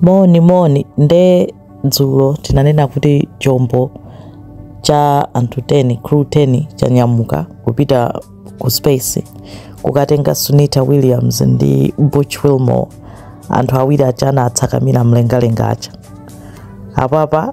Moni moni nde dzulo tinanena kuti chombo cha anthu 10 crew 10 chanyamuka kupita ku space kukatenga Sunita Williams ndi Butch Wilmore anthu awiri aja anatsakamira mlengalenga aja apapa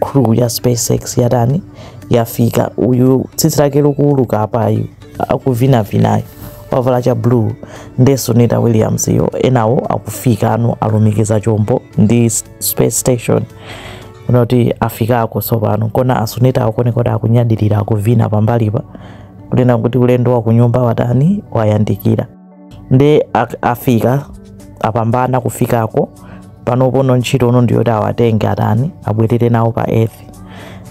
crew ya spacex yatani yafika uyu tsitsi lake likuuluka apayu akuvinavinayo wavala cha blue ndi sunita williams yo enawo akufika ano alumikiza chombo ndi s- space station muone kuti afikako tsopano kona asunita akuoneka kuti akunyadilira akuvina pambalipa kunena kuti ulendo wa kunyumba watani wayandikira ndi afika apambana kufikako panopono ntchito no ndiyoti awatenge atani abwerere nawo pa earth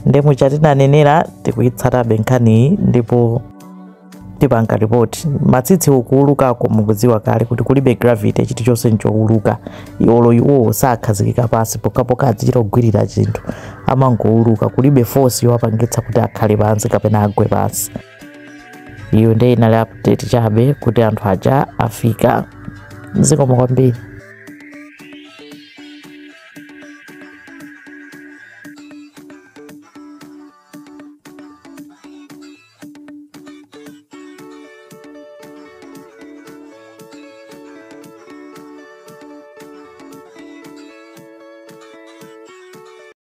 nde muja tinanenera tikuyitsatabe nkhaniyi ndipo tipanga ripoti matsitsi ukuulukako mukudziwa kale kuti kulibe gravity chinthu chonse nchouluka olo iwowo sakhazikika pansi pokapoka azichita kugwirira chinthu amangouluka kulibe force yowapangitsa kuti akhale pansi kapena agwe pansi iyo nde inali update chabe kuti anthu aja afika zikomo kwambiri